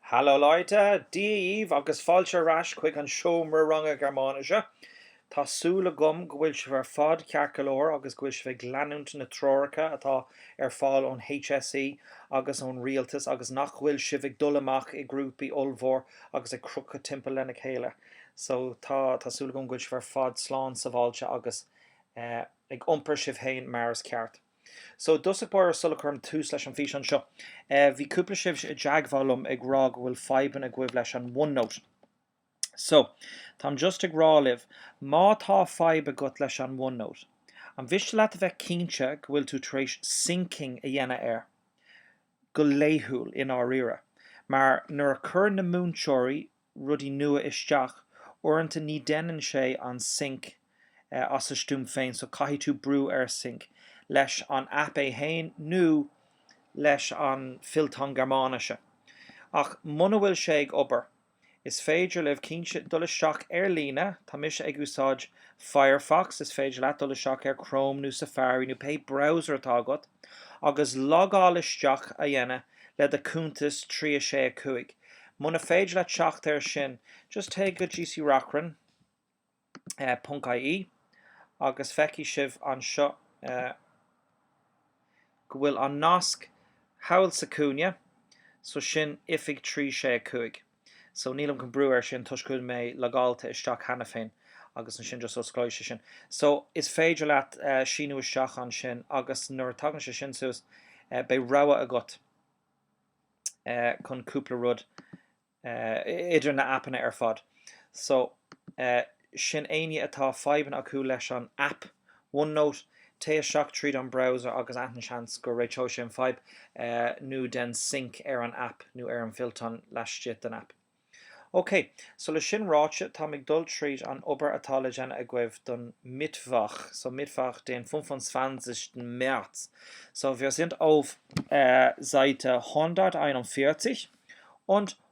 Hallo Leute! Dia dhaoibh agus fáilte ar ais chuig an seomra ranga Gearmáinise. Tá súil agam go bhfuil sibh ar fad ceart go leor agus go bhfuil sibh ag leanúint na dtreoracha atá ar fáil ón HSE agus ón rialtas agus nach bhfuil sibh ag dul amach i grúpaí ollmhór agus ag crochadh timpeall lena chéile. So tá tá súil agam go bhfuil sibh ar fad slán sabháilte agus ag iompar sibh féin mar is ceart. So, i dtosach báire, sula gcuirim tús leis an bhfíseán seo, bhí cúpla sibh i dteagmháil liom ag rá go bhfuil fadhbanna agaibh leis an OneNote. So, táim just ag rá libh, má tá fadhb agat leis an OneNote, an mhiste leat a bheith cinnte go bhfuil tú tar éis syncing a dhéanamh air, go laethúil, i ndáiríre. Mar, nuair a chuireann na múinteoirí rudaí nua isteach. Uaireanta ní déanann sé an sync as a stuaim féin so caithfidh tú brú ar sync, leis an app é fhéin nó leis an fillteán Gearmáinise. Ach muna bhfuil sé ag obair, is féidir libh, cinnte, dul isteach ar líne, tá mise ag úsáid Firefox, is féidir leat dul isteach ar Chrome nó Safari nó pé browser atá agat, agus logáil isteach a dhéanamh le do chuntas trí a sé a cúig. Muna féidir leat teacht ar sin, just téigh go GC Reachrann, eh, ponc IE agus feicfidh sibh anseo, eh, go bhfuil an nasc thall sa chúinne, so sin oifig trí a sé a cúig. So, nílim chun brú ar sin toisc go bhfuil mé logáilte isteach cheana féin agus ansin just osclóidh sé sin. So, is féidir leat síniú isteach ansin agus nuair a tagann sé sin suas beidh rogha agat chun cúpla rud idir na aipeanna ar fad. So, eh. sin éinne atá fadhbanna acu leis an aip OneNote, téigh isteach tríd an browser agus ansin seans go réiteoidh sé an fadhb nó déan sync ar an aip nó ar an bhfillteán laistigh den aip. OK, so le sin ráite, táim ag dul tríd an obair atá le déanamh agaibh don Mittwoch, so Mittwoch den 25. März. So wir sind auf Seite 141 und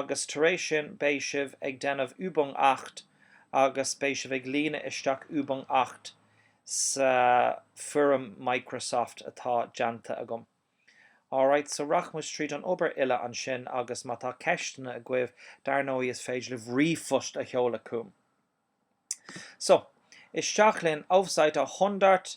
agus tar éis sin beidh sibh ag déanamh Übung acht agus beidh sibh ag líonadh isteach Übung acht sa foirm Microsoft atá déanta agam. Alright, so rachaimid tríd an obair uile ansin agus má tá ceisteanna agaibh, dar ndóigh is féidir libh ríomhphost a sheoladh chugam. So, isteach linn, auf Seite 100!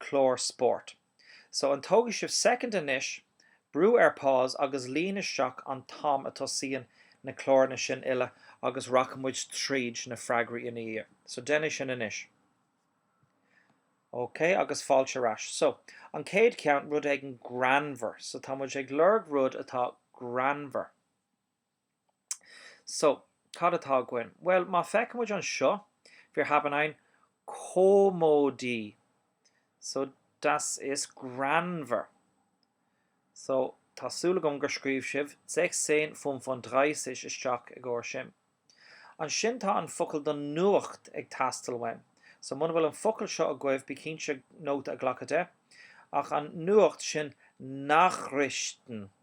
clár spóirt. So, an dtógfaidh sibh second anois, brú ar pause agus líon isteach an t-am a tosaíonn na cláranna sin uile agus rachaidh muid tríd na freagraí ina dhiaidh. So, déanaigí sin anois. OK, agus fáilte ar ais. So, an chéad ceann, rud éigin greannmhar. So, tá muid ag lorg rud atá greannmhar. So, cad atá againn? Bhuel, má feicimid anseo, wir haben ein Komödie. So, das ist greannmhar. So, tá súil agam gur scríobh sibh 1635 isteach i gcomhair sin. Ansin tá an focal don nuacht ag teastáil uainn. So, muna bhfuil an focal seo agaibh, bí cinnte nóta a ghlacadh de. Ach an nuacht sin Nachrichten.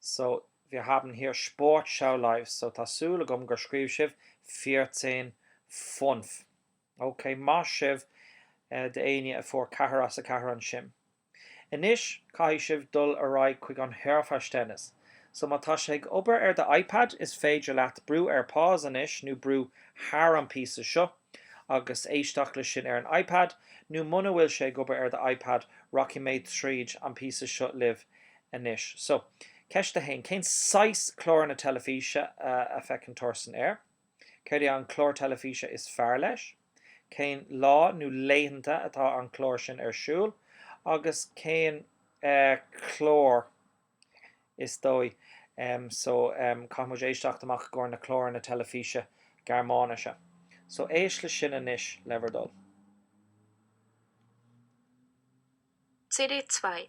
So, wir haben hier Sportschau live. So, tá súil agam gur scríobh sibh vierzehn fünf. Ok, maith sibh d'éinne a fuair ceathair as a ceathair ansin. Anois, caithfidh sibh dul ar aghaidh chuig an Hörverständnis. So, má tá sé ag obair ar do iPad, is féidir leat brú ar Pause anois, nó brú thar an píosa seo, agus éisteacht le sin ar an iPad, nó muna bhfuil sé ag obair ar do iPad, rachaidh mé tríd an píosa seo libh anois. So, ceist a haon, cén saghas cláranna teilifíse a feiceann Torsten air? Céard é an clár teilifíse is fearr leis? Cén lá nó laethanta atá an clár sin ar siúl? Agus cén clár is dóigh. So, caithfidh muid éisteacht amach i gcomhair na cláranna teilifíse Gearmáinise. So, éist le sin anois, le bhur dtoil. CD 2.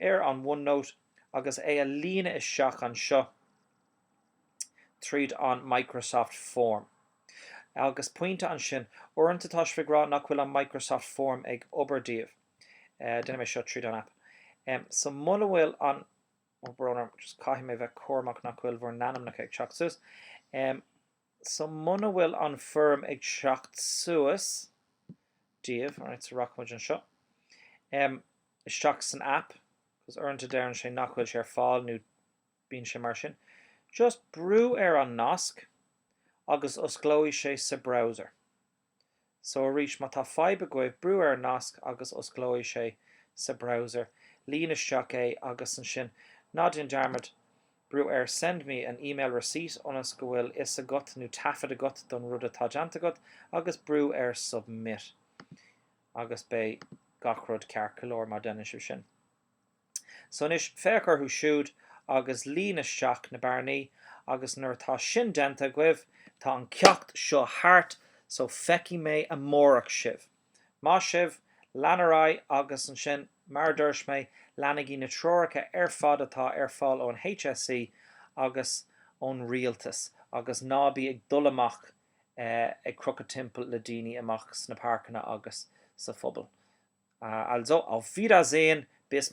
ar an OneNote agus é a líonadh isteach anseo tríd an Microsoft Form. Agus pointe ansin, uaireanta tá sibh ag rá nach bhfuil an Microsoft Form ag obair daoibh. Déanaim é seo tríd an app. So muna bhfuil an, ó brón orm, just caithfidh mé bheith cúramach nach bhfuil bhur n-ainmneacha ag teacht suas. so muna bhfuil an foirm ag teacht suas daoibh, alright, so rachaidh muid anseo, em, isteach san app, because uaireanta deireann sé nach bhfuil sé ar fáil nó bíonn sé mar sin, just brú ar an nasc agus osclóidh sé sa browser. So arís, má tá fadhb agaibh, brú ar an nasc agus osclóidh sé sa browser. Líon isteach é agus ansin, ná déan dearmad, brú ar Send me an email receipt ionas go bhfuil fhios agat nó taifead agat don rud atá déanta agat agus brú ar Submit. Agus beidh gach rud ceart go leor má déanann sibh sin. So anois, féach orthu siúd agus líon isteach na bearnaí agus nuair atá sin déanta agaibh, tá an ceacht seo thart so feicfidh mé amárach sibh. Maith sibh, lean ar aghaidh agus ansin, mar a dúirt mé, leanaigí na treoracha ar fad atá ar fáil ón HSE agus ón rialtas agus ná bí ag dul amach ag crochadh timpeall le daoine amach sna páirceanna agus sa phobal. Also, auf Wiedersehen, bis.